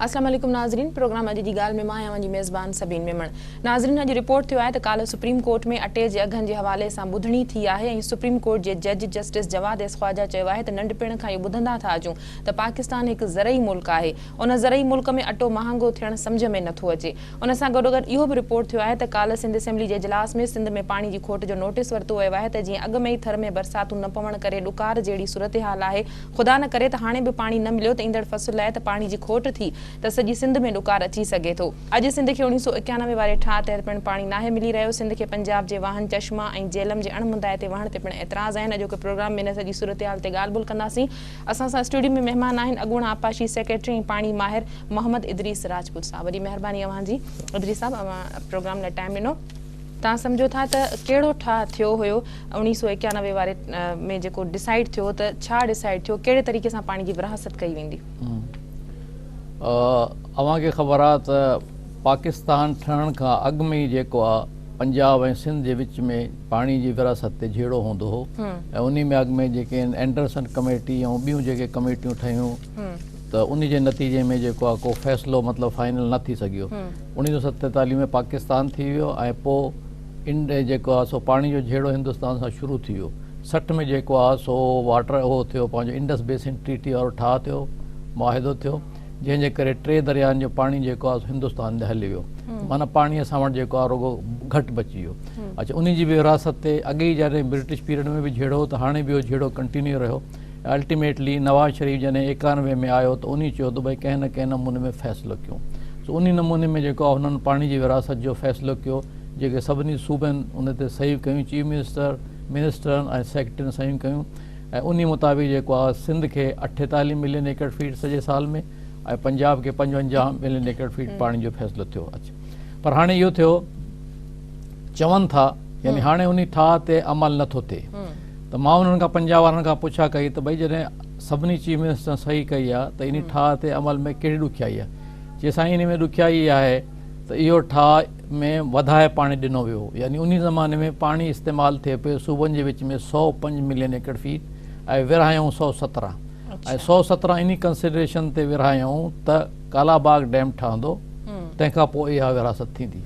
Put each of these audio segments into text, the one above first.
السلام عليڪم ناظرين پروگرام اڄ جي ڳالهه ۾ مان آهيان اوهان جي ميزبان سبين ميمڻ ناظرين اڄ رپورٽ ٿيو آهي ته ڪالهه سپريم ڪورٽ ۾ اٽي جي اگهن جي حوالي سان ٻڌڻي ٿي آهي ۽ سپريم ڪورٽ جي جج جسٽس جواد ايس خواجا چيو آهي ته ننڍپڻ کان اهو ٻڌندا ٿا اچون ته پاڪستان هڪ زرعي ملڪ آهي، ان زرعي ملڪ ۾ اٽو مهانگو ٿيڻ سمجهه ۾ نٿو اچي. ان سان گڏوگڏ اهو به رپورٽ ٿيو آهي ته ڪالهه سنڌ اسيمبلي جي اجلاس ۾ سنڌ ۾ پاڻي جي کوٽ جو نوٽيس ورتو ويو آهي ته جيئن اڳ ۾ ئي ٿر ۾ برساتون نه پوڻ ڪري ڏڪار جهڙي صورتحال آهي خدا نه ڪري ته هاڻي به پاڻي نه مليو ته ايندڙ فصل لاء ته پاڻي جي کوٽ ٿي ته سڄي سنڌ ۾ ڏڪار اچي سگهي ٿو. اڄ سنڌ کي اوڻيهه سؤ اڪيانوي واري ٺاهه تحت پڻ پاڻي ناهي ملي رهيو، سنڌ کي پنجاب جي واهن چشمه ۽ جهلم جي اڻ مندائتي وهڻ تي پڻ اعتراض آهن، اڄوڪي پروگرام ۾ ان سڄي صورتحال تي ڳالهه ٻولهه ڪنداسين. اسان سان اسٽوڊيو ۾ مهمان آهن اڳوڻا آبپاشي سيڪريٽري ۽ پاڻي ماهر محمد ادريس راجپوت صاحب وڏي مهرباني اوهان جي ادريس صاحب اوهان پروگرام لاء ٽائيم ڏنو توهان سمجهو ٿا ته ڪهڙو ٺاهه ٿيو هيو اوڻيهه سؤ ايڪيانوي واري ۾ جيڪو ڊسائيڊ ٿيو ته ڇا ڊسائيڊ ٿيو ڪهڙي طريقي سان پاڻي جي ورهاست ڪئي ويندي اوهان کي خبر آهي ته پاڪستان ٺهڻ کان اڳ ۾ ئي جيڪو آهي پنجاب ۽ سنڌ جي وچ ۾ پاڻي جي وراثت تي جهيڙو هوندو هو ۽ انهي مياڳ ۾ جيڪي اينڊرسن ڪميٽي ۽ ٻيون جيڪي ڪميٽيون ٺهيون ته انهي جي نتيجي ۾ جيڪو آهي ڪو فيصلو مطلب فائنل نه ٿي سگهيو اوڻيهه سئو ستيتاليهه ۾ پاڪستان ٿي ويو ۽ پو انڊ جيڪو آهي سو پاڻي جو جهيڙو هندستان سان شروع ٿي ويو سٺ ۾ جيڪو آهي سو واٽر اهو ٿيو پنهنجو انڊس بيسن ٽريٽي وارو ٺاهه ٿيو معاهدو ٿيو جنهن جي ڪري ٽي درياهن جو پاڻي جيڪو آهي هندستان ڏي هلي ويو معنيٰ پاڻي اسان وٽ جيڪو آهي رڳو گهٽ بچي ويو اڇا ان جي به ورهاست تي اڳي ئي جڏهن برٽش پيريڊ ۾ به جهيڙو هو ته هاڻي به اهو جهيڙو ڪنٽينيو رهيو الٽيميٽلي نواز شريف جڏهن ايڪانوي ۾ آيو ته انهي چيو ته ڀئي ڪنهن نه ڪنهن نموني ۾ فيصلو ڪيون سو انهي نموني ۾ جيڪو آهي هنن پاڻي جي ورهاست جو فيصلو ڪيو جيڪي سڀني صوبن ان تي صحيحون ڪيون چيف منسٽر منسٽرن ۽ سيڪريٽرين صحيحون ڪيون ۽ انهي مطابق جيڪو آهي سنڌ کي اٺيتاليهه ملين ايڪڙ فيٽ سڄي سال ۾ ۽ پنجاب کي پنجونجاهه ملين ايڪڙ فيٽ پاڻي جو فيصلو ٿيو پر هاڻي اهو ٿيو چون ٿا يعني هاڻي انهي ٺاهه تي عمل نه ٿو ٿئي ته مان انهن کان پنجاب وارن کان پڇا ڪئي ته ڀئي جڏهن سڀني چيف منسٽرن صحيح ڪئي آهي ته انهي ٺاهه تي عمل ۾ ڪهڙي ڏکيائي آهي چي سائين انهي ۾ ڏکيائي اها آهي ته اهو ٺاهه ۾ وڌائي پاڻي ڏنو ويو هو يعني انهي زماني ۾ پاڻي استعمال ٿئي پيو صوبن جي وچ ۾ سؤ پنج ملين ايڪڙ فيٽ ۽ ورهايائون سؤ سترهن ۽ سؤ سترهن انهي ڪنسڊريشن تي ورهايائون ته ڪالاباغ ڊيم ٺهندو تنهن کان پوء اها ورهاست ٿيندي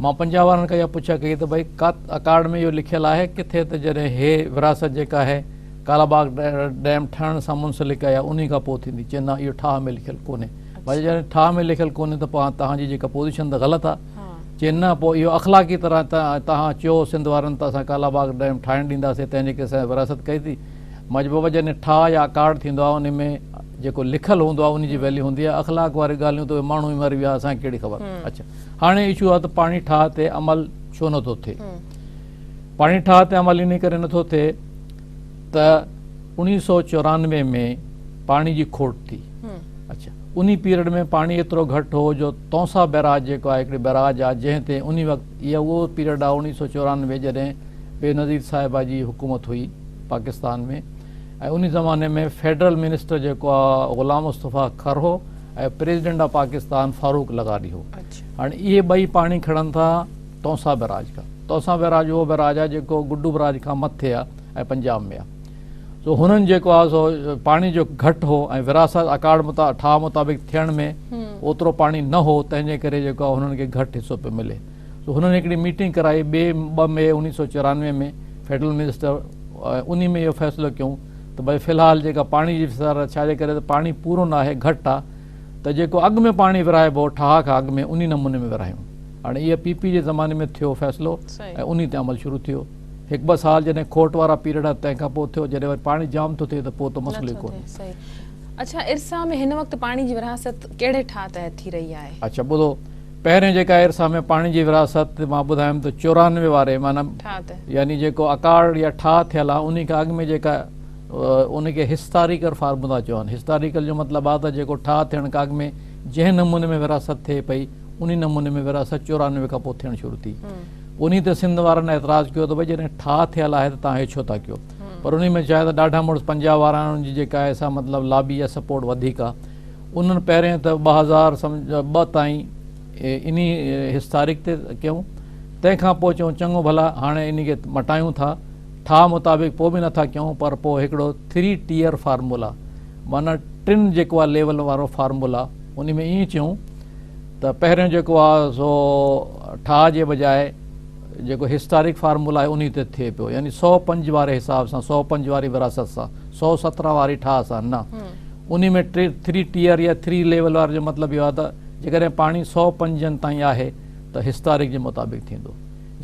مان پنجاب وارن کان اها پڇا ڪئي ته ڀائي ڪا اڪارڊ ۾ اهو لکيل آهي ڪٿي ته جڏهن هي ورهاست جيڪا هي ڪالاباغ ڊيم ٺهڻ سان منسلڪ آهي يا انهي کان پوء ٿيندي چين نه اهو ٺاهه ۾ لکيل ڪونهي واري جڏهن ٺاهه ۾ لکيل ڪونهي ته پوء هاڻ توهان جي جيڪا پوزيشن ته غلط آهي چي نه پوء اهو اخلاقي طرح توهان چيو سنڌ وارن ته اسان ڪالا باغ ڊيم ٺاهڻ ڏينداسين تنهن جيڪي اسان جي ورهاست ڪئي ٿي مجبوبا جڏهن ٺاهه يا اڪارڊ ٿيندو آهي ان ۾ جيڪو لکيل هوندو آهي ان جي ويليو هوندي آهي اخلاق واري ڳالهيون ته اهي ماڻهو ئي مري ويا اسان کي ڪهڙي خبر اڇا هاڻي اشو آهي ته پاڻي ٺاهه تي عمل ڇو نٿو ٿئي پاڻي ٺاهه تي عمل انهي ڪري نٿو ٿئي ته اوڻيهه سؤ چورانوي ۾ پاڻي جي کوٽ ٿي اڇا انهي پيريڊ ۾ پاڻي ايترو گهٽ هو جو تونسا بئراج جيڪو آهي هڪڙي بئراج آهي جنهن تي انهي وقت اها اهو پيريڊ آهي اوڻيهه سؤ چورانوي جڏهن بينظير صاحبه جي حڪومت هئي پاڪستان ۾ ۽ انهي زماني ۾ فيڊرل منسٽر جيڪو آهي غلام مصطفيٰ کر هو ۽ پريزيڊنٽ آف پاڪستان فاروق لغاري هو هاڻي اهي ٻئي پاڻي کڻن ٿا تونسا بئراج کان تونسا بئراج اهو بئراج آهي جيڪو گڊو بئراج کان مٿي آهي ۽ پنجاب ۾. سو هنن جيڪو آهي سو پاڻي جو گهٽ هو ۽ وراثت اڪارڊ ٺاهه مطابق ٿيڻ ۾ اوترو پاڻي نه هو تنهن جي ڪري جيڪو آهي هنن کي گهٽ حصو پيو ملي. سو هنن هڪڙي ميٽنگ ڪرائي ٻئي ٻه مئي اڻويهه سؤ چورانوي ۾ فيڊرل منسٽر انهي ۾ اهو فيصلو ڪيون ته ڀائي في الحال جيڪا پاڻي جي وسارت ڇا جي ڪري ته پاڻي پورو نه آهي گهٽ آهي ته جيڪو اڳ ۾ پاڻي ورهائبو هو ٺاهه کان اڳ ۾ انهي نموني ۾ ورهايون هاڻي اهي پي پي جي زماني ۾ ٿيو فيصلو ۽ انهي تي عمل شروع ٿيو. هڪ ٻه سال جڏهن کوٽ وارا پيريڊ آهن تنهن کان پوء ٿيو جڏهن وري پاڻي جام ٿو ٿئي ته پوء ته مسئلو ئي ڪونهي. اڇا ارسا ۾ هن وقت پاڻي جي ورهاست ڪهڙي ٺاهه تحت ٿي رهي آهي؟ اڇا ٻڌو پهرين جيڪا ارسا ۾ پاڻي جي ورهاست مان ٻڌايم ته چورانوي واري معنيٰ يعني جيڪو اڪاڙ يا ٺاهه ٿيل آهي انهي کان اڳ ۾ جيڪا انهي کي هسٽاريڪل فارمولا چون هسٽاريڪل جو مطلب آهي ته جيڪو ٺاهه ٿيڻ کان اڳ ۾ جنهن نموني ۾ ورهاست ٿئي پئي انهي نموني ۾ ورهاست چورانوي کان پوء ٿيڻ شروع ٿي. انهي تي سنڌ وارن اعتراض ڪيو ته ڀئي جڏهن ٺاهه ٿيل آهي ته توهان هي ڇو ٿا ڪيو؟ پر انهي ۾ شايد ڏاڍا مڙس پنجاب وارا آهن انهن جي جيڪا آهي سا مطلب لابي يا سپورٽ وڌيڪ آهي. انهن پهرين ته ٻه هزار ٻه تائين انهي حص تاريخ تي ڪيون تنهن کان پوء چيون چڱو ڀلا هاڻي انهي کي مٽايون ٿا ٺاهه مطابق پوء به نه ٿا ڪيون پر پوء هڪڙو ٿري ٽيئر فارمولا معنيٰ ٽن جيڪو آهي ليولن وارو فارمولا انهي ۾ ائين ٿيون ته پهريون جيڪو آهي سو ٺاهه جي بجاء جيڪو هسٽارڪ فارمولا آهي انهي تي ٿئي پيو يعني سؤ پنج واري حساب سان سؤ پنج واري وراثت سان سؤ سترهن واري ٺاهه سان نه انهي ۾ ٿري ٽيئر يا ٿري ليول واري جو مطلب اهو آهي ته جيڪڏهن پاڻي سؤ پنجن تائين آهي ته هسٽارڪ جي مطابق ٿيندو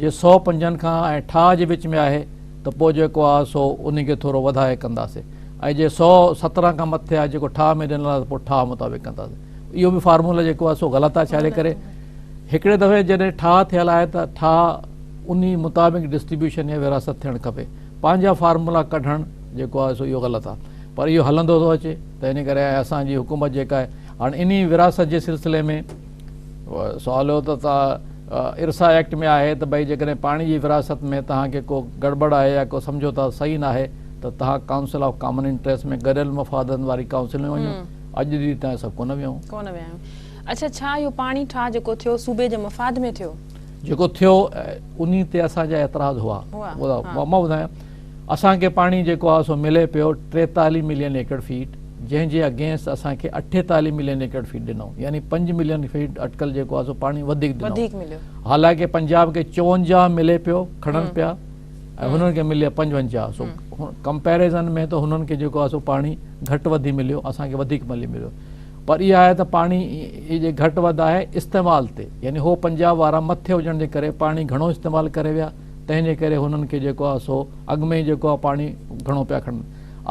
جي سؤ پنجن کان ۽ ٺاهه جي وچ ۾ آهي ته پوء جيڪو آهي سو انهي کي ٿورو وڌائي ڪنداسين ۽ جي سؤ سترهن کان مٿي آهي جيڪو ٺاهه ۾ ڏنل آهي ته پوء ٺاهه مطابق ڪنداسين اهو به فارمولا جيڪو آهي سو غلط آهي ڇاجي ڪري هڪڙي دفعي جڏهن ٺاهه ٿيل آهي ته ٺاهه انهي مطابق ڊسٽريبيوشن يا ورهاست ٿيڻ کپي پنهنجا فارمولا ڪڍڻ جيڪو آهي سو اهو غلط آهي پر اهو هلندو ٿو اچي ته انهي ڪري ۽ اسان جي حڪومت جيڪا آهي هاڻ انهي ورهاست جي سلسلي ۾ سوال هو ته ارسا ايڪٽ ۾ آهي ته ڀئي جيڪڏهن پاڻي جي ورهاست ۾ توهان کي ڪو گڙٻڙ آهي يا ڪو سمجهوتا صحيح ناهي ته توهان ڪائونسل آف ڪامن انٽريسٽ ۾ گڏيل مفادن واري ڪائونسل ۾ وڃو اڄ جي تائين اسان ڪونه ويا آهيون. اڇا ڇا اهو پاڻي ٺاهه جيڪو ٿيو صوبي جي مفاد ۾ ٿيو؟ جيڪو ٿيو انهي تي اسان جا اعتراض هئا. مان ٻڌايان. اسان کي پاڻي جيڪو آهي سو ملي پيو ٽيتاليهه ملين ايڪڙ فيٽ جنهن جي اگينسٽ اسان کي اٺيتاليهه ملين ايڪڙ فيٽ ڏنو يعني پنج ملين فيٽ اٽڪل جيڪو آهي سو پاڻي وڌيڪ ڏنو حالانڪه پنجاب کي چونجاهه ملي پيو کڻن پيا ۽ هنن کي ملي پنجونجاهه سو ڪمپيرزن ۾ ته هنن کي جيڪو آهي سو پاڻي گهٽ وڌي مليو اسان کي وڌيڪ ملي مليو پر اها آهي ته پاڻي جي گهٽ وڌ آهي استعمال تي يعني هو پنجاب وارا مٿي هجڻ جي ڪري پاڻي گهڻو استعمال ڪري ويا تنهن جي ڪري هنن کي جيڪو آهي سو اڳ ۾ ئي جيڪو آهي پاڻي گهڻو پيا کڻن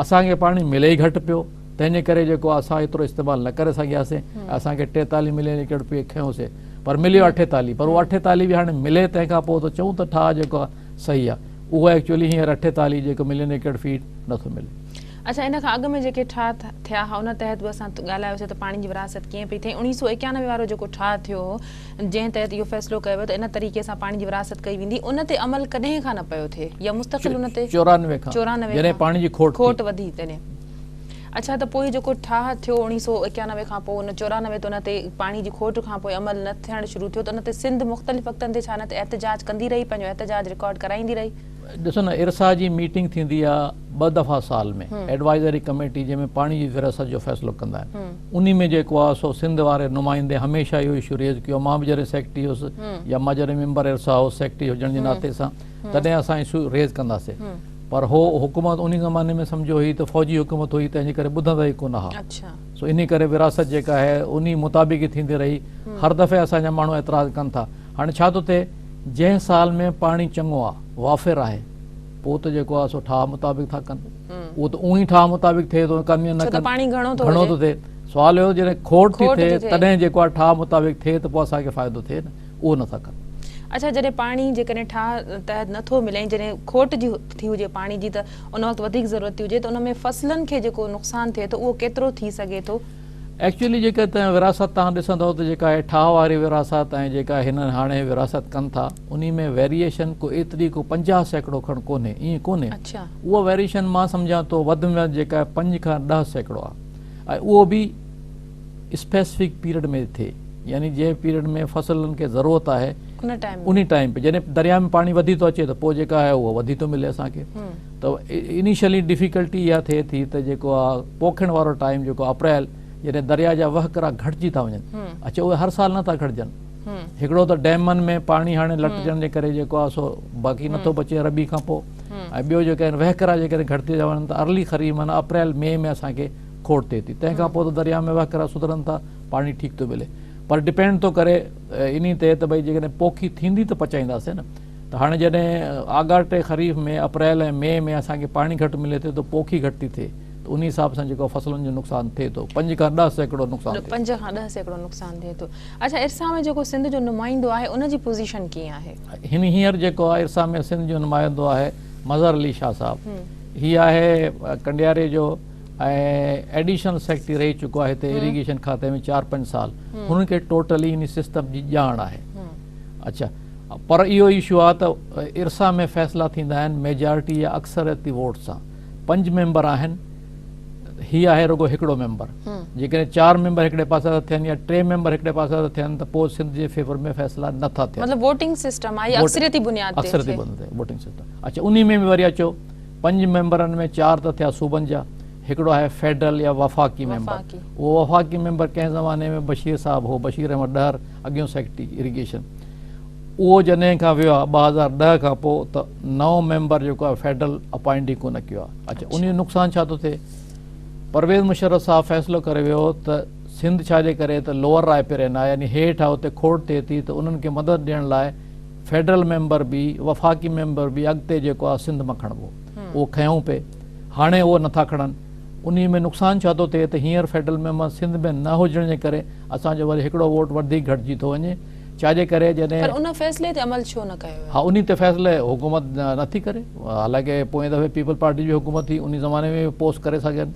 اسان کي پاڻي ملي ئي گهٽ پيو تنهن جي ڪري جيڪو آهي اسان ايترو استعمال نه ڪري سگهياسين اسان کي ٽيتالي ملين ليڪڙ پي کنيوسين پر مليو اٺيتالي پر اهو اٺيتالي به هاڻي ملي تنهن کان پوء ته چئون ته ٺاهه جيڪو آهي صحيح آهي اهو ايڪچولي هينئر اٺيتالي جيڪو ملين ليڪڙ فيٽ نٿو ملي اچا ان کان اڳ ۾ جيڪي ٺاهه ٿيا هئا ان تحت به اسان ڳالهايوسي ته پاڻي جي ورهاست ڪيئن پئي ٿئي اڻيهه سؤ ايڪيانوي وارو جيڪو ٺاهه ٿيو هو جنهن تحت اهو فيصلو ڪيو ويو ته ان طريقي سان پاڻي جي ورهاست ڪئي ويندي ان تي عمل ڪڏهن کان نه پيو ٿئي يا مستقل ان تي چورانوي کان جڏهن پاڻي جي کوٽ وڌي تڏهن اڇا ته پوء جيڪو ٺاهه ٿيو اڻيهه سؤ ايڪيانوي کان پوء ان چورانوي تي ان تي پاڻي جي کوٽ کان پوء عمل نه ٿيڻ شروع ٿيو ته ان تي سنڌ مختلف وقتن تي ڇا نه ته احتجاج ڪندي رهي پنهنجو احتجاج رڪارڊ ڪرائيندي رهي. ڏسو نه ارسا جي ميٽنگ ٿيندي آهي ٻه دفعا سال ۾ ايڊوائزري ڪميٽي جنهن ۾ پاڻي جي ورهاست جو فيصلو ڪندا آهن انهي ۾ جيڪو آ سو سنڌ واري نمائندي هميشه اهو اشو ريز ڪيو مان به جڏهن سيڪريٽري هوس يا مان جڏهن ميمبر ارسا هوس سيڪريٽري هجڻ جي ناتي سان تڏهن اسان اشو ريز ڪنداسي پر هو حڪومت انهي زماني ۾ سمجهو هئي ته فوجي حڪومت هئي تنهن جي ڪري ٻڌندا ئي ڪونه ها سو انهي ڪري ورهاست جيڪا آهي انهي مطابق ئي ٿيندي رهي هر دفعي اسان جا ماڻهو اعتراض ڪن ٿا هاڻي ڇا ٿو ٿئي جنهن سال ۾ پاڻي چڱو آ وافر آهي پوء ته جيڪو آهي سو ٺاهه مطابق ٿا ڪن اهو ته اونهي ٺاهه مطابق ٿئي ٿو ڪم نه ڪن گهڻو ٿو ٿئي سوال اهو جڏهن کوٽ ٿي ٿئي تڏهن جيڪو آهي ٺاهه مطابق ٿئي ته پوء اسان کي فائدو ٿئي نه اهو نه ٿا ڪن اڇا جڏهن پاڻي جيڪڏهن ٺاهه تحت نه ٿو ملي ۽ جڏهن کوٽ جي ٿي هجي پاڻي جي ته ان وقت وڌيڪ ضرورت ٿي هجي ته ان ۾ فصلن کي جيڪو نقصان ٿئي ٿو اهو ڪيترو ٿي سگهي ٿو ايڪچوئلي جيڪا ته وراثت توهان ڏسندئو ته جيڪا هي ٺاهه واري وراثت ۽ جيڪا هن هاڻي وراثت ڪن ٿا انهي ۾ ويريئيشن ڪو ايتري ڪو 50 سيڪڙو کڻ ڪونهي ائين ڪونهي اها ويريئيشن مان سمجهان ٿو وڌ ۾ وڌ جيڪا هي 5 کان 10 سيڪڙو آهي ۽ اهو به اسپيسفڪ پيريڊ ۾ ٿئي يعني جنهن پيريڊ ۾ فصلن کي ضرورت آهي انهي ٽائيم تي جڏهن درياء ۾ پاڻي وڌي ٿو اچي ته پوء جيڪا هي اهو وڌي ٿو ملي اسان کي ته انيشلي ڊفيڪلٽي اها ٿئي ٿي ته جيڪو آهي پوکڻ وارو ٽائيم جيڪو اپريل جڏهن دريا جا وهڪرا گهٽجي ٿا وڃن اڇا اهي هر سال نٿا گهٽجن هڪڙو ته ڊيمن ۾ پاڻي هاڻي لٽجڻ جي ڪري جيڪو آهي سو باقي نٿو بچي ربي کان پوء ۽ ٻيو جيڪا آهن وهڪرا جيڪڏهن گهٽجي ٿا وڃن ته ارلي خريف معنيٰ اپريل مئي ۾ اسان کي کوٽ ٿئي ٿي تنهن کان پوء ته دريا ۾ وهڪرا سڌرن ٿا پاڻي ٺيڪ ٿو ملي پر ڊپينڊ ٿو ڪري انهي تي ته ڀئي جيڪڏهن پوکي ٿيندي ته پچائينداسين نه ته هاڻي جڏهن آڳاٽي خريف ۾ اپريل ۽ مئي ۾ اسان کي پاڻي گهٽ ملي ٿو ته پوکي گهٽ ٿي ٿئي ته انهي حساب سان جيڪو فصلن جو نقصان ٿئي ٿو پنج کان ڏهه سيڪڙو نقصان ٿئي پنج کان ڏهه سيڪڙو نقصان ٿئي ٿو اڇا ارسا ۾ جيڪو سنڌ جو نمائندو آهي ان جي پوزيشن ڪيئن آهي هن هينئر جيڪو آهي ارسا ۾ سنڌ جو نمائندو آهي مظهر علي شاهه صاحب هي آهي ڪنڊياري جو ۽ ايڊيشنل سيڪريٽري رهي چڪو آهي هتي ايريگيشن کاتي ۾ چار پنج سال هن کي ٽوٽلي ان سسٽم جي ڄاڻ آهي اڇا پر اهو اشو آ ته ارسا ۾ فيصلا ٿيندا آهن ميجارٽي يا اڪثريتي ووٽ سان پنج ميمبر آهن هي آهي رڳو هڪڙو ميمبر جيڪڏهن چار ميمبر هڪڙي پاسي ٿا ٿين يا ٽي ميمبر هڪڙي پاسي ٿا ٿين ته پوء سنڌ جي فيور ۾ فيصلا نه ٿا ٿين مطلب ووٽنگ سسٽم آهي اڪثريتي بنياد تي اڪثريتي بنياد تي ووٽنگ سسٽم اڇا انهي ۾ به وري اچو پنج ميمبرن ۾ چار ته ٿيا صوبن جا هڪڙو آهي فيڊرل يا وفاقي ميمبر اهو وفاقي ميمبر ڪنهن زماني ۾ بشير صاحب هو بشير احمد ڏهر اڳيون سيڪريٽري اريگيشن اهو جڏهن کان ويو آهي 2010 کان پوء ته نئون ميمبر جيڪو آهي فيڊرل اپوائنٽ ئي ڪونه ڪيو آهي اڇا ان جو نقصان ڇا ٿو ٿئي پرويز مشرف صاحب فيصلو ڪري ويو ته سنڌ ڇا جي ڪري ته لوور رائي پرين آهي يعني هيٺ آهي اتي کوٽ ٿئي ٿي ته انهن کي مدد ڏيڻ لاء فيڊرل ميمبر به وفاقي ميمبر به اڳتي جيڪو آهي سنڌ مان کڻبو اهو کنيون پئي هاڻي اهو نه ٿا کڻن. انهي ۾ نقصان ڇا ٿو ٿئي ته هينئر فيڊرل ميمبر سنڌ ۾ نه هجڻ جي ڪري اسان جو وري هڪڙو ووٽ وڌيڪ گهٽجي ٿو وڃي ڇا جي ڪري جڏهن. پر ان فيصلي تي عمل ڇو نه ڪيو ويو؟ ها انهي تي فيصلي حڪومت نه ٿي ڪري. حالانڪه پوئين دفعي پيپلز پارٽي جي حڪومت هئي انهي زماني ۾ به پوسٽ ڪري سگهين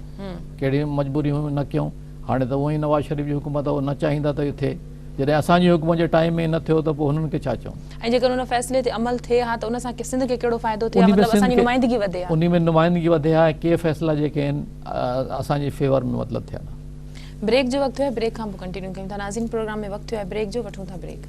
ڪهڙي مجبوري هيون نه ڪيون. هاڻي ته هونئن ئي نواز شريف جي حڪومت آهي، هو نه چاهين ٿا ته اهو ٿئي. جڏهن اسان جي حڪومت جي ٽائيم ۾ ئي نه ٿيو ته پوء هنن کي ڇا چئون؟ ۽ جيڪڏهن ان فيصلي تي عمل ٿئي ها ته ان سان سنڌ کي ڪهڙو فائدو ٿئي ها، مطلب اسان جي نمائندگي وڌي ها. انهي ۾ نمائندگي وڌي ها ۽ ڪي فيصلا جيڪي آهن اسان جي فيور ۾ مطلب ٿين ها. بريڪ جو وقت ٿيو آهي، بريڪ کان پوء ڪنٽينيو ڪيون ٿا. ناظرين پروگرام ۾ وقت ٿيو آهي بريڪ جو، وٺون ٿا بريڪ.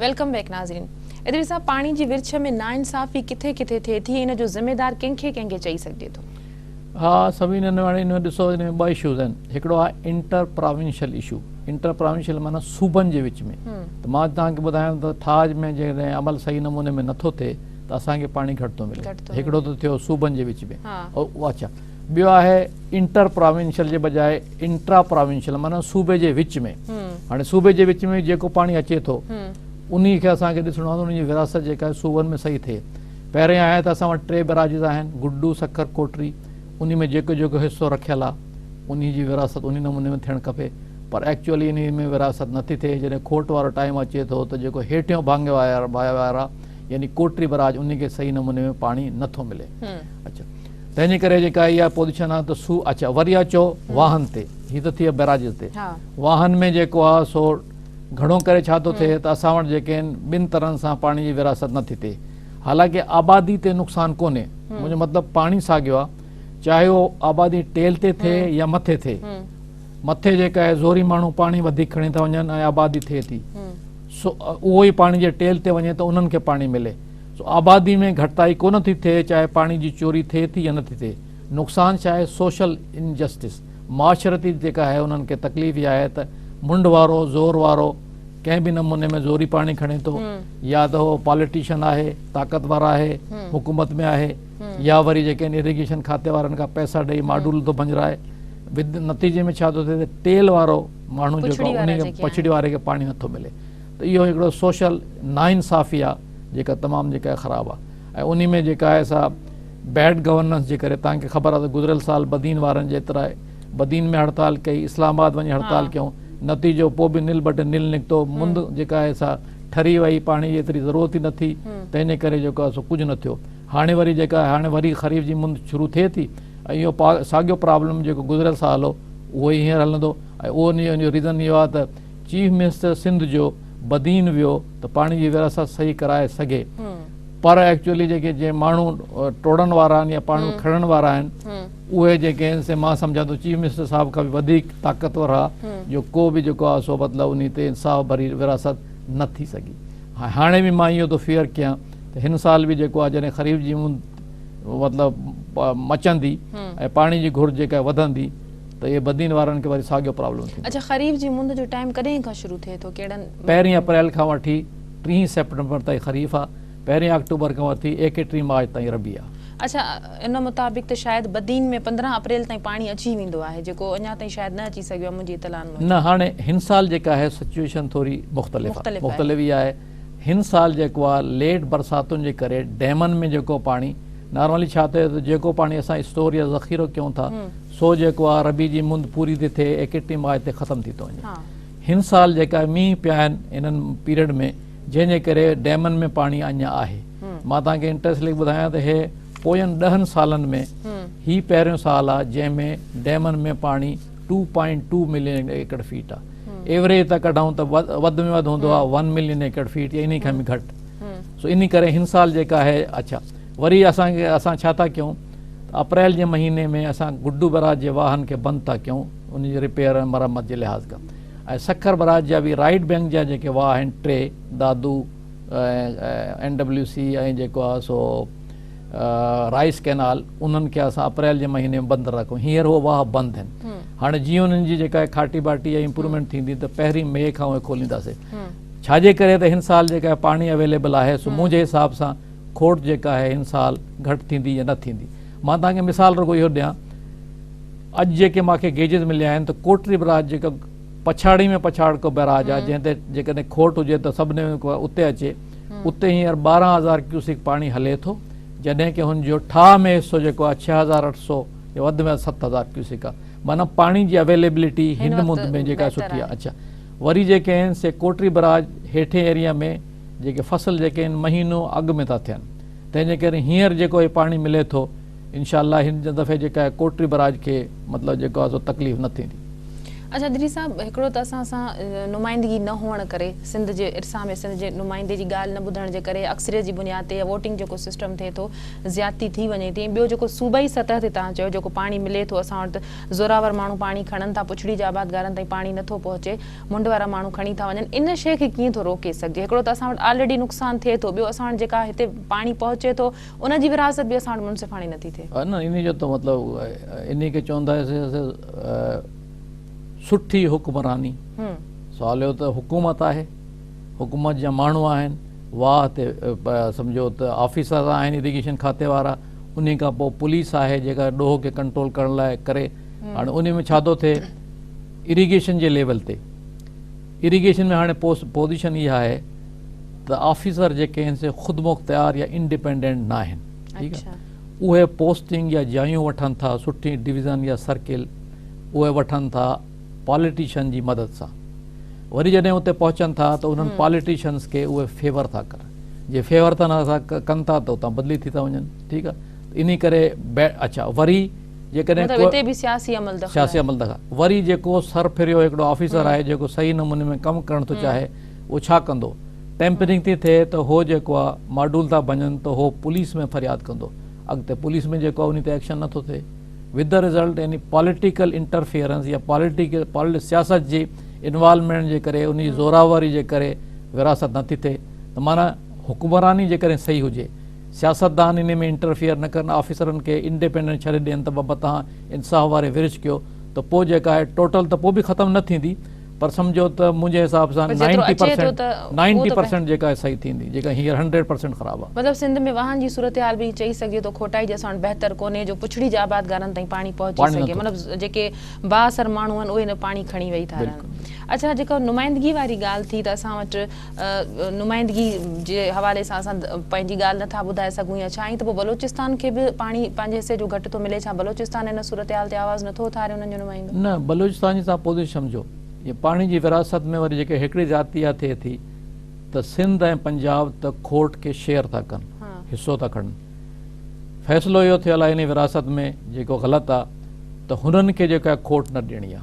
ويلڪم بيڪ ناظرين ادريس صاحب پاڻي جي ورڇ ۾ ناانصافي ڪٿي ڪٿي ٿئي ٿي ان جو ذميدار ڪنهن کي ڪنهن کي چئي سگهجي ٿو. ها سميع ننواڻي ان ۾ ڏسو ان ۾ ٻه اشوز آهن هڪڙو آهي inter provincial issue inter provincial معنيٰ صوبن جي وچ ۾ ته مان توهان کي ٻڌايم ته ٺاهه ۾ جيڪڏهن عمل صحيح نموني ۾ نٿو ٿئي ته اسان کي پاڻي گهٽ ٿو ملي هڪڙو ته ٿيو صوبن جي وچ ۾ اڇا ٻيو آهي انٽر پراونشل جي بجاء انٽرا پراونشل معنيٰ صوبي جي وچ ۾ هاڻي صوبي جي وچ ۾ جيڪو پاڻي اچي ٿو انهي کي اسان کي ڏسڻو آهي ان جي ورهاست جيڪا آهي صوبن ۾ صحيح ٿئي پهرين آهي ته اسان وٽ ٽي بيراجز آهن گڊو سکر ڪوٽري انهي ۾ جيڪو جيڪو حصو رکيل آهي انهي جي ورهاست انهي نموني ۾ ٿيڻ کپي پر ايڪچوئلي انهي ۾ ورهاست نٿي ٿئي جڏهن کوٽ وارو ٽائيم اچي ٿو ته جيڪو هيٺيون ڀاڱي وارا يعني ڪوٽري بيراج انهي کي صحيح نموني ۾ پاڻي نٿو ملي اڇا تنهنجي ڪري جيڪا اها پوزيشن آهي ته سو اڇا وري اچو واهن تي هي ته ٿي بيراجز تي واهن ۾ جيڪو آهي سو گهڻو ڪري ڇا ٿو ٿئي ته اسان وٽ جيڪي آهن ٻن طرحن سان پاڻي جي ورهاست نه ٿي ٿئي حالانڪه آبادي تي نقصان ڪونهي منهنجو مطلب پاڻي ساڳيو آهي چاهي اهو آبادي ٽيل تي ٿئي يا مٿي ٿئي مٿي جيڪا آهي زوري ماڻهو پاڻي وڌيڪ کڻي ٿا وڃن ۽ آبادي ٿئي ٿي سو اهو ئي پاڻي جي ٽيل تي وڃي ته انهن کي پاڻي ملي سو آبادي ۾ گهٽتائي ڪونه ٿي ٿئي چاهي پاڻي جي چوري ٿئي ٿي يا نه ٿي ٿئي. نقصان ڇا آهي سوشل ان جسٽس معاشرتي جيڪا آهي انهن کي تڪليف اها آهي ته منڍ وارو زور وارو ڪنهن به نموني ۾ زوري پاڻي کڻي ٿو يا ته هو پاليٽيشن آهي طاقتور آهي حڪومت ۾ آهي يا وري جيڪي آهن اريگيشن کاتي وارن کان پئسا ڏئي ماڊول ٿو ڀڃرائي نتيجي ۾ ڇا ٿو ٿئي ته ٽيل وارو ماڻهو جيڪو آهي ان کي پڇڙي واري کي پاڻي نه ٿو ملي. ته اهو هڪڙو سوشل ناانصافي آ جيڪا تمام جيڪا خراب آ ۽ انهي ۾ جيڪا آهي سا بيڊ گورننس جي ڪري توهان کي خبر آ ته گذريل سال بدين وارن جيترا بدين ۾ هڙتال ڪئي اسلام آباد وڃي هڙتال ڪيون نتيجو پو به نل بٽ نل نڪتو مند جيڪا آهي سا ٺري وئي پاڻي جي ايتري ضرورت ئي نه ٿي تنهنجي ڪري جيڪو آهي سو ڪجهه نه ٿيو هاڻي وري جيڪا آهي هاڻي وري خريف جي مند شروع ٿئي ٿي ۽ اهو ساڳيو پرابلم جيڪو گذريل سال هو اهو ئي هينئر هلندو ۽ اهو انهي جو ريزن اهو آ ته چيف منسٽر سنڌ جو بدين ويو ته پاڻي جي ورهاست صحيح ڪرائي سگهي پر ايڪچوئلي جيڪي جي ماڻهو ٽوڙڻ وارا آهن يا پاڻي کڻڻ وارا آهن اهي جيڪي آهن سي مان سمجهان ٿو چيف منسٽر صاحب کان به وڌيڪ طاقتور ها جو ڪو به جيڪو آهي سو مطلب انهي تي انصاف ڀري ورهاست نه ٿي سگهي هاڻي به مان اهو ٿو فيئر ڪيان ته هن سال به جيڪو آهي جڏهن خريف جي مطلب مچندي ۽ پاڻي جي گهرج جيڪا وڌندي ته اهي بدين وارن کي وري ساڳيو پرابلم ٿيندو. اڇا خريف جي مند جو ٽائيم ڪڏهن کان شروع ٿئي ٿو ڪهڙن. پهرين اپريل کان وٺي ٽيهين سيپٽمبر تائين خريف آ پهرين آڪٽوبر کان وٺي ايڪيٽيهين مارچ تائين ربيع آ. اڇا ان مطابق ته شايد بدين ۾ پندرهن اپريل تائين پاڻي اچي ويندو آهي جيڪو اڃا تائين شايد نه اچي سگهيو آهي منهنجي اطلاعن موجب. نه هاڻي هن سال جيڪا آهي سچويشن ٿوري مختلف آ مختلف اها آهي هن سال جيڪو آ ليٽ برساتن جي ڪري ڊيمن ۾ جيڪو پاڻي نارملي ڇا ٿئي ٿو جيڪو پاڻي اسان اسٽور يا ذخيرو ڪيون ٿا سو جيڪو آ ربيع جي مند پوري تي ٿئي ايڪٽي ماء تي ختم ٿي ٿو وڃي هن سال جيڪا مينهن پيا آهن انهن پيريڊ ۾ جنهن جي ڪري ڊيمن ۾ پاڻي اڃا آهي مان توهان کي انٽريسٽ ليڪ ٻڌايان ته هي پوين ڏهن سالن ۾ هي پهريون سال آ جنهن ۾ ڊيمن ۾ پاڻي two point two million acre feet آ ايوريج ته ڪڍون ته وڌ ۾ وڌ هوندو آ ون ملين ايڪڙ فيٽ يا انهي کان به گهٽ سو انهي ڪري هن سال جيڪا آهي اڇا وري اسان کي اسان ڇا ٿا ڪيون ته اپريل جي مهيني ۾ اسان گڊو بئراج جي واهن کي بند ٿا ڪيون انهن جي رپيئر ۽ مرمت جي لحاظ کان ۽ سکر بئراج جا به رائيٽ بئنڪ جا جيڪي واهه آهن ٽي دادو اين ڊبليو سي ۽ جيڪو آهي سو رائيس ڪئنال انهن کي اسان اپريل جي مهيني ۾ بند ٿا رکون هينئر هو واهه بند آهن هاڻي جيئن انهن جي جيڪا کاٽي باٽي ۽ امپرومينٽ ٿيندي ته پهرين مئي کان اهي کولينداسين ڇا جي ڪري ته هن سال جيڪا پاڻي اويليبل آهي سو منهنجي حساب سان کوٽ جيڪا آهي هن سال گهٽ ٿيندي يا نه ٿيندي مان توهان کي مثال رڳو اهو ڏيان اڄ جيڪي مان کي گيجز مليا آهن ته ڪوٽڙي بئراج جيڪا پڇاڙي ۾ پڇاڙڪو بئراج آهي جنهن تي جيڪڏهن کوٽ هجي ته سڀني اتي اچي اتي هينئر ٻارهن هزار ڪيوسڪ پاڻي هلي ٿو جڏهن ڪي هن جو ٺاهه ۾ حصو جيڪو آهي ڇهه هزار اٺ سؤ يا وڌ ۾ وڌ ست هزار ڪيوسڪ آهي معنيٰ پاڻي جي اويليبلٽي هن مند ۾ جيڪا سٺي آهي اڇا وري جيڪي آهن سي ڪوٽڙي بئراج هيٺين ايريا ۾ جيڪي فصل جيڪي آهن مهينو اڳ ۾ ٿا ٿين تنهن جي ڪري هينئر جيڪو هي پاڻي ملي ٿو انشاء الله هن دفعي جيڪا آهي ڪوٽڙي براج کي مطلب جيڪو آهي سو تڪليف نه ٿيندي. اچا ڏري صاحب هڪڙو ته اسان سان نمائندگي نه هئڻ ڪري سنڌ جي ارسا ۾ سنڌ جي نمائندي جي ڳالهه نه ٻڌڻ جي ڪري اڪثريت جي بنياد تي يا ووٽنگ جيڪو سسٽم ٿئي ٿو زيادتي ٿي وڃي ٿي ۽ ٻيو جيڪو صوبائي سطح تي توهان چيو جيڪو پاڻي ملي ٿو اسان وٽ زوراور ماڻهو پاڻي کڻن ٿا پڇڙي جي آبادگارن تائين پاڻي نه ٿو پهچي منڍ وارا ماڻهو کڻي ٿا وڃن ان شيء کي ڪيئن ٿو روڪي سگهجي هڪڙو ته اسان وٽ آلريڊي نقصان ٿئي ٿو ٻيو اسان وٽ جيڪا هتي پاڻي پهچي ٿو ان جي ورهاست به اسان وٽ منصفاڻي نٿي ٿئي. نه انهي جو ته مطلب انهي کي چوندا سٺي حڪمراني سوال اهو ته حڪومت آهي حڪومت جا ماڻهو آهن واهه تي سمجهو ته آفيسر آهن اريگيشن کاتي وارا انهي کان پوء پوليس آهي جيڪا ڏوهه کي ڪنٽرول ڪرڻ لاء ڪري هاڻي انهي ۾ ڇا ٿو ٿئي اريگيشن جي ليول تي اريگيشن ۾ هاڻي پوزيشن اها آهي ته آفيسر جيڪي آهن سي خودمختيار يا انڊيپينڊنٽ نه آهن ٺيڪ آهي اهي پوسٽنگ يا جايون وٺن ٿا سٺي ڊويزن يا سرڪل اهي وٺن ٿا پاليٽيشن جي مدد سان وري جڏهن اتي پهچن ٿا ته انهن پاليٽيشنس کي اهي فيور ٿا ڪن جي فيور ٿا ڪن ٿا ته اتان بدلي ٿي ٿا وڃن ٺيڪ آهي انهي ڪري اڇا وري جيڪڏهن مطلب اتي به سياسي عمل دخل سياسي عمل دخل وري جيڪو سر پھريو هڪڙو آفيسر آهي جيڪو صحيح نموني ۾ ڪم ڪرڻ ٿو چاهي اهو ڇا ڪندو ٽيمپرنگ ٿي ٿئي ته هو جيڪو آهي ماڊول ٿا ڀڃن ته هو پوليس ۾ فرياد ڪندو اڳتي پوليس ۾ جيڪو آهي انهي تي ايڪشن نٿو ٿئي وٿ دي رزلٽ يعني پاليٽيڪل انٽرفيئرنس يا پاليٽيڪل سياست جي انوالومينٽ جي ڪري انهي جي زوراوري جي ڪري ورهاست نٿي ٿئي ته معنيٰ حڪمراني جيڪڏهن صحيح هجي سياستدان انهي ۾ انٽرفيئر نه ڪن آفيسرن کي انڊيپينڊنٽ ڇڏي ڏين ته ببا تهان انصاف واري ورڇ ڪيو ته پوء جيڪا آهي ٽوٽل ته پوء به ختم نه ٿيندي پر سمجهو ته منهنجي حساب سان نائنٽي پرسينٽ نائنٽي پرسينٽ جيڪا آهي صحيح ٿيندي جيڪا هينئر هنڊريڊ پرسينٽ خراب آهي. مطلب سنڌ ۾ واهن جي صورتحال به ائين چئي سگهجي ٿو کوٽائي جي ساڻ بهتر ڪونهي جو پڇڙي جي آبادگارن تائين پاڻي پهچي سگهي مطلب جيڪي بااثر ماڻهو آهن اهي نه پاڻي کڻي ويهي ٿا رهن اڇا جيڪا نمائندگي واري ڳالهه ٿي ته اسان وٽ نمائندگي جي حوالي سان اسان پنهنجي ڳالهه نه ٿا ٻڌائي سگهون يا ڇا ائين ته پوء بلوچستان کي به پاڻي پنهنجي حصي جو گهٽ ٿو ملي ڇا بلوچستان ان صورتحال تي آواز نه ٿو اٿاري انهن جو نمائندو. نه بلوچستان جي تهان پوزيشن جو جي پاڻي جي ورهاست ۾ وري جيڪي هيڪڙي زيادتي اها ٿئي ٿي ته سنڌ ۽ پنجاب ته کوٽ کي شيئر ٿا ڪن حصو ٿا کڻن فيصلو اهو ٿيل آهي انهي ورهاست ۾ جيڪو غلط آ ته هنن کي جيڪا کوٽ نه ڏيڻي آ.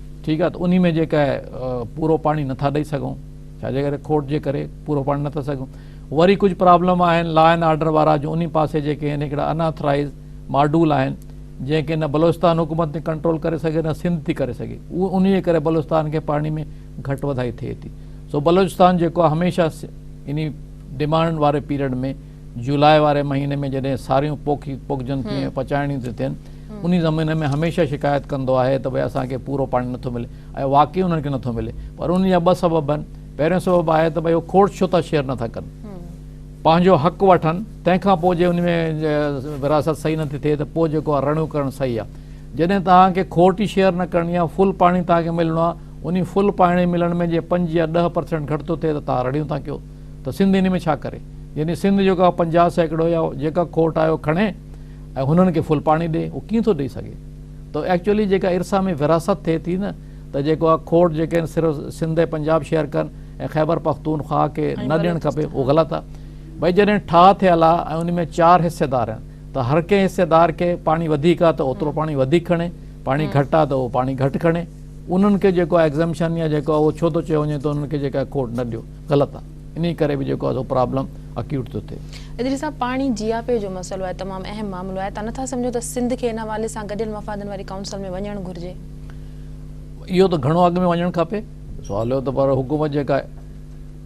ٺيڪ آهي ته انهي ۾ جيڪا آهي پورو پاڻي نٿا ڏئي سگهون ڇا جي ڪري کوٽ جي ڪري پورو پاڻي نٿا سگهون وري ڪجهه پرابلم آهن لا اينڊ آرڊر وارا جو انهي پاسي جيڪي آهن هڪڙا ان آٿرائيز ماڊول آهن جنهن کي نه بلوچستان حڪومت ٿي ڪنٽرول ڪري سگهي نه سنڌ ٿي ڪري سگهي اهو انهي جي ڪري بلوچستان کي پاڻي ۾ گهٽ وڌائي ٿئي ٿي سو بلوچستان جيڪو آهي هميشه انهي ڊمانڊ واري پيريڊ ۾ جولاء واري مهيني ۾ جڏهن ساريون پوکي پوکجن ٿيون ۽ پچائڻيون ٿيون ٿين انهي زمينن ۾ هميشه شڪايت ڪندو آهي ته ڀئي اسان کي پورو پاڻي نٿو ملي ۽ واقعي انهن کي نٿو ملي پر انهن جا ٻه سبب آهن پهريون سبب آهي ته ڀئي هو کوڙ ڇو ٿا شيئر نٿا ڪن پنهنجو حق وٺن تنهن کان پوء جي انهي ۾ وراثت صحيح نٿي ٿئي ته پوء جيڪو آهي رڙيون ڪرڻ صحيح آهي جڏهن توهان کي کوٽ ئي شيئر نه ڪرڻي آهي فل پاڻي توهان کي ملڻو آهي انهي فل پاڻي ملڻ ۾ جي پنج يا ڏهه پرسينٽ گهٽ ٿو ٿئي ته توهان رڙيون ٿا ڪيو ته سنڌ ان ۾ ڇا ڪري؟ يعني سنڌ جيڪو آهي پنجاهه سيڪڙو يا جيڪا کوٽ آهي اهو کڻي ۽ هنن کي ڦل پاڻي ڏئي اهو ڪيئن ٿو ڏئي سگهي؟ ته ايڪچوئلي جيڪا ارثا ۾ وراثت ٿئي ٿي نه ته جيڪو آهي کوٽ جيڪي آهن صرف سنڌ ۽ پنجاب شيئر ڪن ۽ خيبر پختونخواهه کي نه ڏيڻ کپي اهو غلط آهي. ڀئي جڏهن ٺاهه ٿيل آهي ۽ ان ۾ چار حصيدار آهن ته هر ڪنهن حصيدار کي پاڻي وڌيڪ آهي ته اوترو پاڻي وڌيڪ کڻي، پاڻي گهٽ آهي ته اهو پاڻي گهٽ کڻي، انهن کي جيڪو آهي ايگزمپشن يا جيڪو آهي اهو ڇو ٿو چيو وڃي ته انهن کي جيڪا آهي کوٽ نه ڏيو؟ غلط آ انهي ڪري به جيڪو آ سو پرابلم اڪيوٽ ٿو ٿئي. ادريس صاحب پاڻي جياپي جو مسئلو آهي تمام اهم معاملو آهي تان نٿا سمجهو ته سنڌ کي ان حوالي سان گڏيل مفادن واري ڪائونسل ۾ وڃڻ گهرجي. اهو ته گهڻو اڳ ۾ وڃڻ کپي سوال اهو ته پر حڪومت جيڪا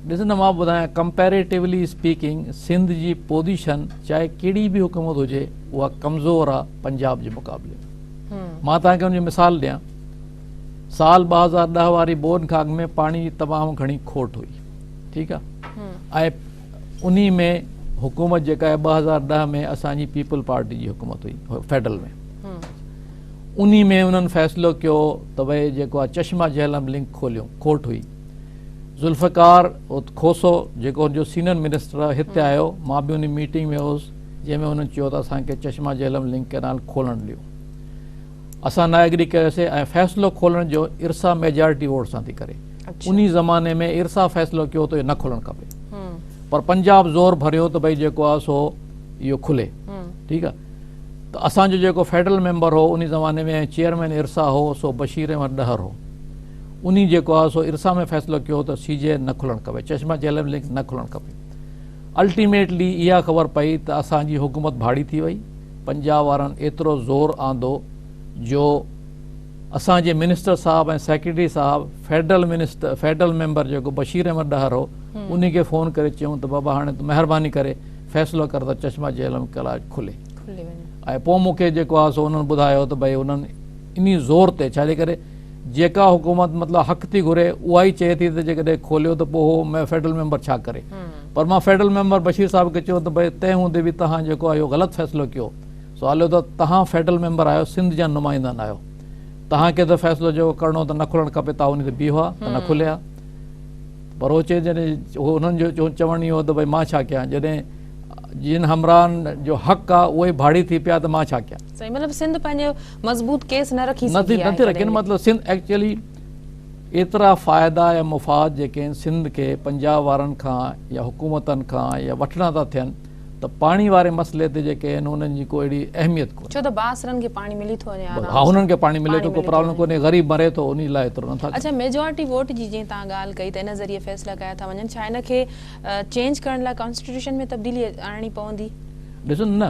ڏس نه مان ٻڌايان ڪمپيريٽولي اسپيڪنگ سنڌ جي پوزيشن چاهي ڪهڙي به حڪومت هجي اها ڪمزور آ پنجاب جي مقابلي ۾ مان تهان کي ان جو مثال ڏيان سال ٻه هزار ڏهه واري بون کاڳ ۾ پاڻي جي تمام گهڻي کوٽ هئي ٺيڪ آ ۽ انهي ۾ حڪومت جيڪا ٻه هزار ڏهه ۾ اسان جي پيپل پارٽي جي حڪومت هئي فيڊرل ۾ انهي ۾ انهن فيصلو ڪيو ته ڀائی جيڪو آ چشما جهلم لنڪ کوليو کوٽ هئي ذوالفقار کوسو جيڪو ان جو سينئر منسٽر هتي آيو مان به انهي ميٽنگ ۾ هوس جنهن ۾ انهن چيو ته اسان کي چشما جهلم لنڪ ڪينال کولڻ ڏيو اسان نا ايگري ڪيوسي ۽ فيصلو کولڻ جو ارسا ميجارٽي ووٽ سان ٿي ڪري انهي زماني ۾ ارسا فيصلو ڪيو ته اهو نه کولڻ کپي پر پنجاب زور ڀريو ته ڀئي جيڪو آهي سو اهو کلي ٺيڪ آهي ته اسان جو جيڪو فيڊرل ميمبر هو انهي زماني ۾ چيئرمين ارسا هو سو بشير احمد ڏهر هو انهي جيڪو آهي سو ارسا ۾ فيصلو ڪيو ته سي جي نه کلڻ کپي چشما جهلم لنڪ نه کلڻ کپي الٽيميٽلي اها خبر پئي ته اسان جي حڪومت ڀاڙي ٿي وئي، پنجاب وارن ايترو زور آندو جو اسان جي منسٽر صاحب ۽ سيڪريٽري صاحب فيڊرل منسٽر فيڊرل ميمبر جيڪو بشير احمد ڏهر هو انهي کي فون ڪري چيون ته بابا هاڻي تون مهرباني ڪري فيصلو ڪر ته چشما جهلم ڪلاج کلي ۽ پوء مون کي جيڪو آهي سو انهن ٻڌايو ته ڀئي انهن انهي زور تي ڇا جي ڪري جيڪا حڪومت مطلب حق ٿي گهري اها ئي چئي ٿي ته جيڪڏهن کوليو ته پوء هو فيڊرل ميمبر ڇا ڪري پر مان فيڊرل ميمبر بشير صاحب کي چيو ته ڀئي تنهن هوندي به توهان جيڪو آهي اهو غلط فيصلو ڪيو سو عليو ته توهان فيڊرل ميمبر آهيو سنڌ جا نمائندا نه آهيو توهان کي ته فيصلو جيڪو ڪرڻو هو ته نه کلڻ کپي توهان هوندي ته بيهو ها ته نه کلي ها پر هو چئي جڏهن انهن جو چوڻ اهو ته ڀئي مان ڇا ڪيان جڏهن جن همراهن جو حق آهي اهي ڀاڙي ٿي پيا ته مان ڇا ڪيان. سائين مطلب سنڌ پنهنجو مضبوط ڪيس نه رکي سگهي آهي نٿي رکي نه مطلب سنڌ ايڪچلي ايترا فائدا يا مفاد جيڪي آهن سنڌ کي پنجاب وارن کان يا حڪومتن کان يا وٺڻا ٿا ٿين ته پاڻي واري مسئلي تي جيڪي آهن انهن جي ڪو اهڙي اهميت ڪونهي ڇو ته بااثرن کي پاڻي ملي ٿو وڃي آرام سان ها انهن کي پاڻي ملي ٿو ڪو پرابلم ڪونهي غريب مري ٿو انهي لاء ايترو نٿا ڪن اڇا ميجارٽي ووٽ جي جيئن تهان ڳالهه ڪئي ته ان ذريعي فيصلا ڪيا ٿا وڃن ڇا ان کي چينج ڪرڻ لاء ڪانسٽيٽيوشن ۾ تبديلي آڻڻي پوندي ڏسو نه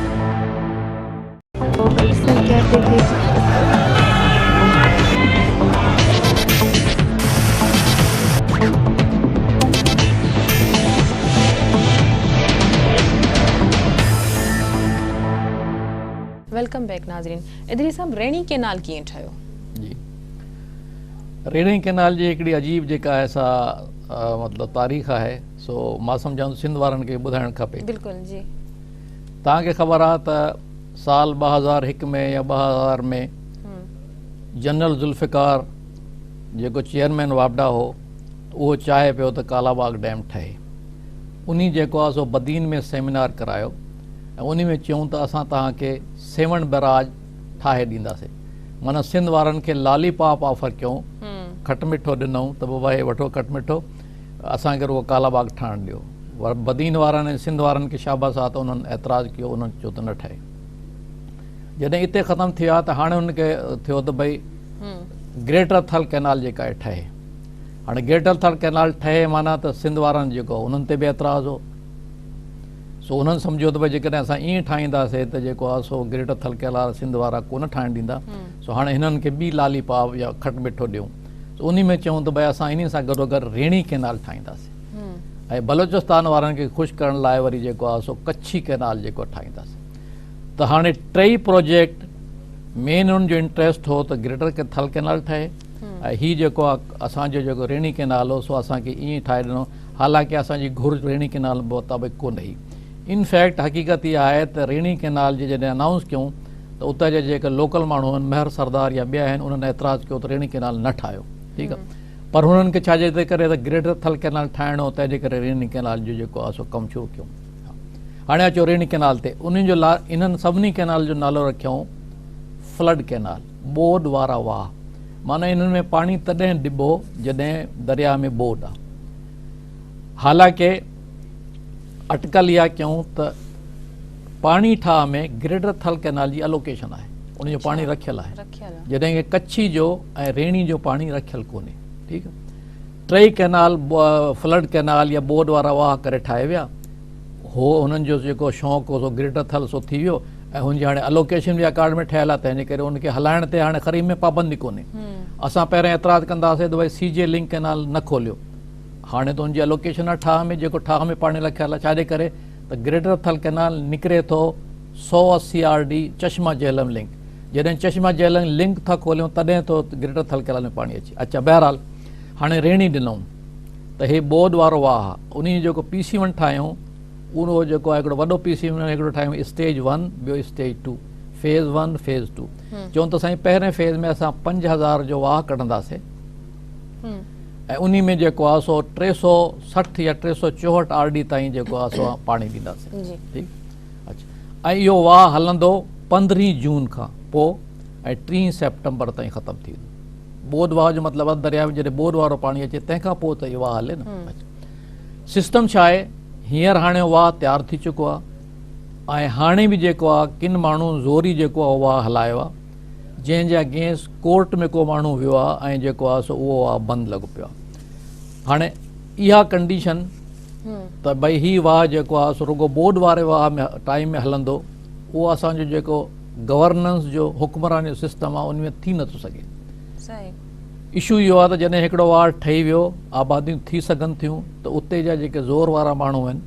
ويلڪم بيڪ ناظرين ادريس صاحب ريڻي ڪينال ڪيئن ٺهيو جي ريڻي ڪينال جي هڪڙي عجيب جيڪا آهي سا مطلب تاريخ آهي سو مان سمجهان ٿو سنڌ وارن کي ٻڌائڻ کپي بلڪل جي توهان کي خبر آهي ته سال ٻه هزار هڪ ۾ يا ٻه هزار ۾ جنرل ذوالفقار جيڪو چيئرمين واپڊا هو اهو چاهي پيو ته ڪالاباغ ڊيم ٺهي انهي جيڪو آهي سو بدين ۾ سيمينار ڪرايو ۽ انهي ۾ چيون ته اسان توهان کي سيوهڻ بئراج ٺاهي ڏينداسين معنيٰ سنڌ وارن کي لالي پاپ آفر ڪيون کٽ مٺو ڏنئون ته بابا هي وٺو کٽ مٺو اسان کي رڳو ڪالا باغ ٺاهڻ ڏيو. بدين وارن ۽ سنڌ وارن کي شاباس آ ته انهن اعتراض ڪيو انهن چيو ته نه ٺهي. جڏهن اتي ختم ٿي ويا ته هاڻي انهن کي ٿيو ته ڀئي گريٽر ٿل ڪئنال جيڪا آهي ٺهي. هاڻي گريٽر ٿل ڪئنال ٺهي معنيٰ ته سنڌ وارن جيڪو انهن تي به اعتراض هو. سو انهن سمجهيو ته ڀئي جيڪڏهن اسان ائين ٺاهينداسين ته جيڪو آهي سو گريٽر ٿل ڪئنال سنڌ وارا ڪونه ٺاهڻ ڏيندا. سو هاڻي هنن کي ٻي لالي پاپ يا کٽ مٺو ڏيون. ته انهي ۾ چيون ته ڀاء اسان انهي سان گڏوگڏ ريڻي ڪئنال ٺاهينداسين ۽ بلوچستان وارن کي خوش ڪرڻ لاء وري جيڪو آهي سو ڪڇي ڪئنال جيڪو ٺاهينداسين ته هاڻي ٽئي پروجيڪٽ مين انهن جو انٽريسٽ هو ته گريٽر ٿل ڪئنال ٺهي ۽ هي جيڪو آهي اسان جو جيڪو ريڻي ڪئنال هو سو اسان کي ائين ٺاهي ڏنو حالانڪه اسان جي گهرج ريڻي ڪئنال مطابق ڪونه هئي ان فيڪٽ حقيقت اها آهي ته ريڻي ڪئنال جي جڏهن انائونس ڪيون ته اتان جا جيڪي لوڪل ماڻهو آهن مهر سردار يا ٻيا آهن انهن اعتراض ڪيو ته ريڻي ڪئنال نه ٺاهيو ٺيڪ آهي پر هنن کي ڇا جي ڪري ته گريٽر ٿل ڪئنال ٺاهڻ هو تنهن جي ڪري ريڻي ڪئنال جو جيڪو آهي سو ڪم شروع ڪيو هاڻي اچو ريڻي ڪئنال تي انهن جو انهن سڀني ڪئنال جو نالو رکيائون فلڊ ڪئنال ٻوڏ وارا واهه معنيٰ انهن ۾ پاڻي تڏهن ڏبو جڏهن درياء ۾ ٻوڏ آهي حالانڪه اٽڪل اها ڪيون ته پاڻي ٺاهه ۾ گريڊر ٿل ڪئنال جي الوڪيشن آهي ان جو پاڻي رکيل آهي جڏهن ڪه ڪڇي جو ۽ ريڻي جو پاڻي رکيل ڪونهي ٺيڪ ٽئي ڪئنال فلڊ ڪئنال يا بورڊ وارا واهه ڪري ٺاهي ويا هو هنن جو جيڪو شوق هو سو گريڊر ٿل سو ٿي ويو ۽ هن جي هاڻي الوڪيشن به اڪارڊ ۾ ٺهيل آهي تنهنجي ڪري ان کي هلائڻ تي هاڻي خريم ۾ پابندي ڪونهي اسان پهرين اعتراض ڪنداسين ته ڀائی سي جي لنڪ ڪئنال نه کوليو هاڻي ته ان جي الوڪيشن آهي ٺاهه ۾ جيڪو ٺاهه ۾ پاڻي لکيل آهي ڇاجي ڪري ته گريٽر ٿل ڪئنال نڪري ٿو سئو اسي R D Chashma Jhelum link جڏهن چشما جهلم لنڪ ٿا کوليون تڏهن ٿو گريٽر ٿل ڪئنال ۾ پاڻي اچي اچا بهرحال هاڻي ريڻي ڏنون ته هي ٻوڏ وارو واهه انهي جو جيڪو پي سي ون ٺاهيون اهو جيڪو آهي هڪڙو وڏو پي سي ون هڪڙو ٺاهيون اسٽيج ون ٻيو stage two phase one phase two چون ته سائين پهرين فيز ۾ اسان پنج هزار جو واهه ڪڍنداسين ۽ انهي ۾ جيڪو آهي سو ٽي سؤ سٺ يا ٽي سؤ چوهٺ آر ڊي تائين جيڪو آهي سو پاڻي ڏينداسين ٺيڪ اڇا ۽ اهو واهه هلندو پندرهين جون کان پو ۽ ٽين سيپٽمبر تائين ختم ٿي ويندو بود واهه جو مطلب آهي درياء ۾ جڏهن بود وارو پاڻي اچي تنهن کان پو ته اهي واهه هلي نه سسٽم ڇا آهي هينئر هاڻي واهه تيار ٿي چڪو آهي ۽ هاڻي به جيڪو آهي ڪن ماڻهن زوري جيڪو آهي واهه هلايو آهي جنهن جي اگينسٽ ڪورٽ ۾ ڪو ماڻهو ويو آهي ۽ جيڪو آهي سو اهو آهي بند لڳو پيو آهي هاڻي اها ڪنڊيشن ته ڀئي هي واهه جيڪو آهي سو رڳو ٻوڏ واري واهه ۾ ٽائيم ۾ هلندو اهو اسان جو جيڪو گورننس جو حڪمران جو سسٽم آهي ان ۾ ٿي نٿو سگهي اشو اهو آهي ته جڏهن هڪڙو واهه ٺهي ويو آباديون ٿي سگهن ٿيون ته اتي جا جيڪي زور وارا ماڻهو آهن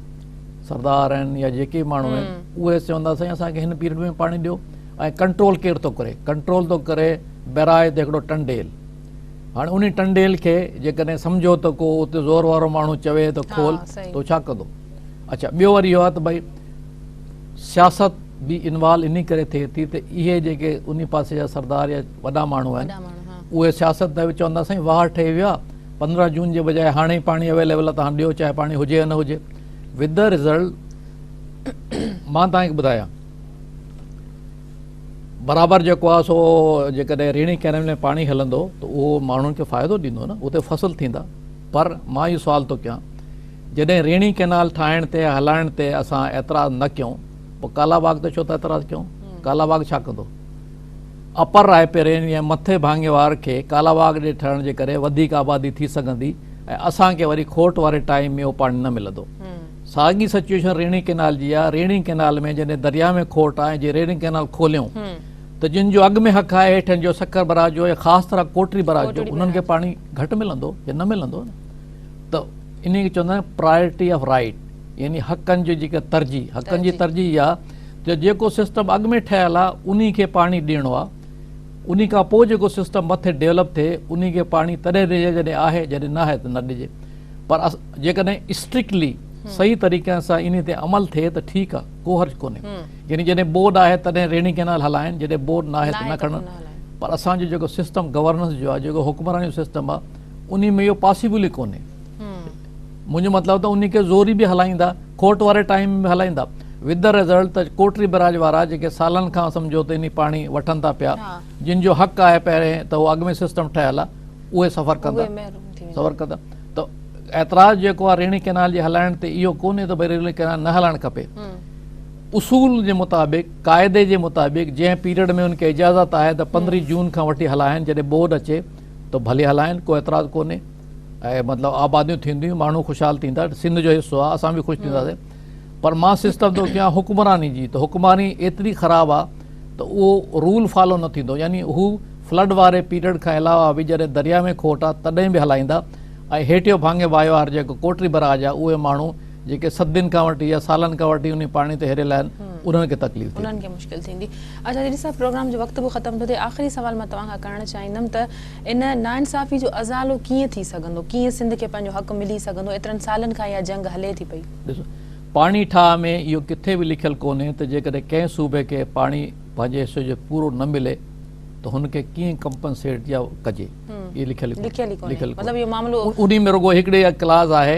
سردار آهن يا جيڪي ماڻهو آهن اهي چوندا سائين اسان کي هن پيرڊ ۾ پاڻي ڏيو ۽ ڪنٽرول ڪير ٿو ڪري؟ ڪنٽرول ٿو ڪري بيرائي تي هڪڙو ٽنڊيل. هاڻي انهي ٽنڊيل کي جيڪڏهن سمجهو ته ڪو اتي زور وارو ماڻهو چوي ته کول ته هو ڇا ڪندو؟ اڇا ٻيو وري اهو آهي ته ڀئي سياست به انوالو انهي ڪري ٿئي ٿي ته اهي جيڪي انهي پاسي جا سردار يا وڏا ماڻهو آهن اهي سياست ته چوندا سائين واهه ٺهي ويو آهي پندرهن جون جي بجاء هاڻي ئي پاڻي اويليبل آهي ته هاڻي ڏيو چاهي پاڻي هجي يا نه هجي وڌ رزلٽ مان توهان کي ٻڌايان برابر جيڪو آهي سو جيڪڏهن ريڻي ڪينل ۾ پاڻي هلندو ته اهو ماڻهن کي فائدو ڏيندو نه اتي فصل ٿيندا پر مان اهو سوال ٿو ڪيان جڏهن ريڻي ڪينال ٺاهڻ تي هلائڻ تي اسان اعتراض نه ڪيون پوء ڪالا باغ تي ڇو ٿا اعتراض ڪيون ڪالا باغ ڇا ڪندو اپر راء پيرين يا مٿي ڀاڱي وار کي ڪالا باغ ڏي ٺهڻ جي ڪري وڌيڪ آبادي ٿي سگهندي ۽ اسان کي وري کوٽ واري ٽائيم ۾ اهو پاڻي نه ملندو ساڳي سچويشن ريڻي ڪئنال جي آهي، ريڻي ڪئنال ۾ جڏهن درياء ۾ کوٽ آهي جي ريڻي ڪئنال کوليون ته جن جو اڳ ۾ حق آهي هيٺين جو سکر براه جو يا خاص طرح ڪوٽڙي براه جو انهن کي پاڻي گهٽ ملندو يا نه ملندو نه ته انهي کي چوندا آهن پرايرٽي آف رائيٽ يعني حقن جو جيڪا ترجيح حقن جي ترجيح اها جو جيڪو سسٽم اڳ ۾ ٺهيل آهي انهي کي پاڻي ڏيڻو آهي انهي کان پوء جيڪو سسٽم مٿي ڊيولپ ٿئي انهي کي پاڻي تڏهن ڏجي جڏهن آهي جڏهن نه آهي ته نه ڏجي پر جيڪڏهن اسٽرڪٽلي صحيح طريقي سان انهي تي عمل ٿئي ته ٺيڪ آ ڪو حرج ڪونهي يعني جڏهن بورڊ آهي تڏهن ريڙهين ڪئنال هلائين جڏهن بورڊ ناهي ته نه کڻن پر اسان جو جيڪو سسٽم گورننس جو آ جيڪو حڪمراني جو سسٽم آ انهي ۾ اهو پاسيبل ئي ڪونهي منهنجو مطلب ته انهي کي زوري به هلائيندا کوٽ واري ٽائيم ۾ به هلائيندا وٿ ڌا ريزلٽ ته ڪوٽڙي بئراج وارا جيڪي سالن کان سمجهو ته انهي پاڻي وٺن ٿا پيا جن جو حق آهي پهرين ته اهو اڳ ۾ سسٽم ٺهيل آ اهي سفر ڪندا ته اعتراض جيڪو آهي ريڻي ڪينال جي هلائڻ تي اهو ڪونهي ته ريلوي ڪينال نه هلائڻ کپي اصول جي مطابق قاعدي جي مطابق جنهن پيريڊ ۾ ان کي اجازت آهي ته پندرهين جون کان وٺي هلائن جڏهن ٻوڏ اچي ته ڀلي هلائن ڪو اعتراض ڪونهي مطلب آباديون ٿينديون ماڻهو خوشحال ٿيندا سنڌ جو حصو آهي اسان به خوش ٿينداسين پر مان سسٽم ٿو ڪيان حڪمراني جي ته حڪمراني ايتري خراب آ ته اهو رول فالو نه ٿيندو يعني هو فلڊ واري پيريڊ کان علاوه به جڏهن دريا ۾ کوٽ آ تڏهن به هلائيندا ۽ هيٺيون ڀاڱي واهيوار جيڪو ڪوٽري براج آ اهي ماڻهو جيڪي صدين کان وٺي يا سالن کان وٺي انهي پاڻي تي هريل آهن انهن کي تڪليف ٿيندي. انهن کي مشڪل ٿيندي. اچا جيڏي صاحب پروگرام جو وقت به ختم ٿو ٿئي آخري سوال مان توهان کان ڪرڻ چاهيندم ته ان ناانصافي جو ازالو ڪيئن ٿي سگهندو؟ ڪيئن سنڌ کي پنهنجو حق ملي سگهندو؟ ايترن سالن کان اها جنگ هلي ٿي پئي. ڏسو، پاڻي ٺاهه ۾ اهو ڪٿي به لکيل ڪونهي ته جيڪڏهن ڪنهن صوبي کي پاڻي پنهنجي حصي جو پورو نه ملي ته هن کي ڪيئن ڪمپنسيٽ يا ڪجي. اهو لکيل ئي ڪونهي. انهي ۾ رڳو هڪڙي اها ڪلاز آهي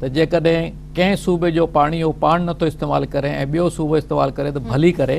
ته جيڪڏهن ڪنهن صوبي جو پاڻي اهو پاڻ نٿو استعمال ڪري ۽ ٻيو صوبو استعمال ڪري ته ڀلي ڪري.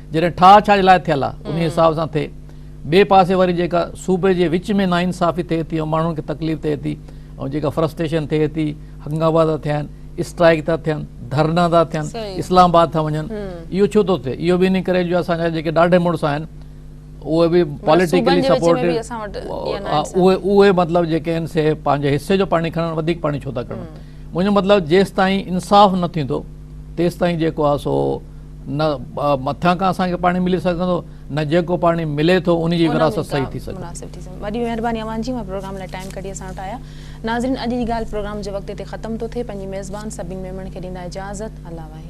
جڏهن ٺاهه ڇا جي لاء ٿيل آ انهي حساب سان ٿئي ٻئي پاسي وري جيڪا صوبي جي وچ ۾ ناانصافي ٿئي ٿي ۽ ماڻهن کي تڪليف ٿئي ٿي ۽ جيڪا فرسٽريشن ٿئي ٿي هنگاما ٿا ٿين اسٽرائيڪ ٿا ٿين ڌرنا ٿا ٿين اسلام آباد ٿا وڃن اهو ڇو ٿو ٿئي اهو به انهي ڪري جو اسان جا جيڪي ڏاڍي مڙس آهن اهي به پاليٽيڪلي سپورٽيڊ اهي مطلب جيڪي آهن سي پنهنجي حصي جو پاڻي کڻن وڌيڪ پاڻي ڇو ٿا کڻن منهنجو مطلب جيستائين انصاف نه ٿيندو تيستائين جيڪو آ سو نه مٿان کان اسان کي پاڻي ملي سگهندو نه جيڪو پاڻي ملي ٿو ان جي وراثت صحيح ٿي سگهندي. مناسب ٿي سگهندي. وڏي مهرباني اوهان جي اوهان پروگرام لاء ٽائيم ڪڍي اسان وٽ آيا. ناظرين اڄ جي ڳالهه پروگرام جي وقت تي ختم ٿو ٿئي پنهنجي ميزبان سڀني ميمڻن کي ڏيندا اجازت الله واحد.